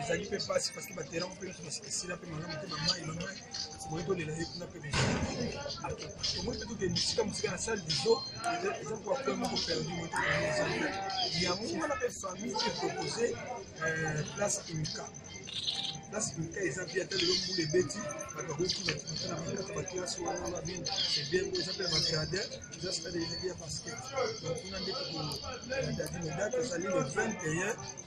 ezali mpe mpasi parceke baterrain mpe nyonso basila mpe malamu mpe bamai bamai boye tolela ye kuna mpe tomoni mpe tokende mosika mosika na salle diso eza koa point moko perdu motoezali yango wana mpe famille mpe propose euh, place imika place imika eza mpe ata lelo mbula ebeti bato bakoki bakimata na bakata baklase wana babin ebengo eza mpe ya bagradin eza stade ezali ya basket donc kuna nde tokoadadi medate ezali le 21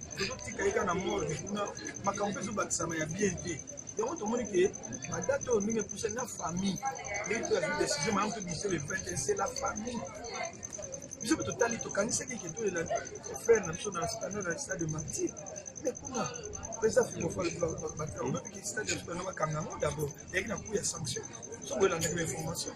tozotika ye kaka na morgue kuna makambo mpe ezobakisama ya bien te yango tomoni ke badate oyo ndenge epuse na famille ndenge mpe azwi décision mayango mpe biso le 21 c'est la famille biso mpe totali tokanisaki ke tolela frère na biso na standard ya stade martyr mais kuna eza filofabateobebi ke stade ya sukana bakanga yango d'abord eyaki na coup ya sanction soki oyelandaki ba information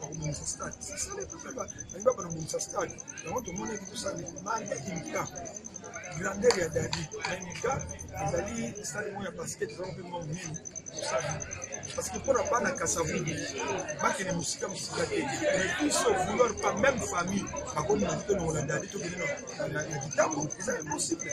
bakobongisa stade sisale mpe balingi bapana kobongisa stade yango tomonaki tosala demande ya imika grandeur ya dadi na imika ezali stade moko ya basket ezala mpe mwa mingi tosala parce que mpona bana kasavubu bakende mosika mosika te mais biso vouloir pas même famille bakomi na mpe longola dadi tokende na kitambo eza impossible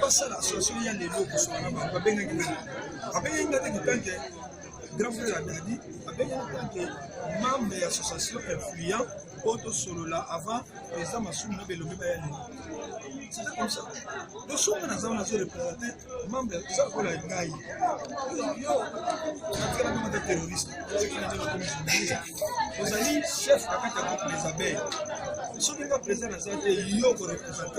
basala association ya lelo kosala na bango babengaki nani babengaki nga te kotanke grand frère ya dadi abengaki tanke membre ya association influent oyo tosolola avant eza masumu na belombe baya lelo c'est comme ça tosonga naza wana azo représente membre eza lokola ngai yo natikala kama ta terroriste oyekinanakomi journaliste ozali chef na kati ya groupe des abeilles soki nga président naza te yo koreprésente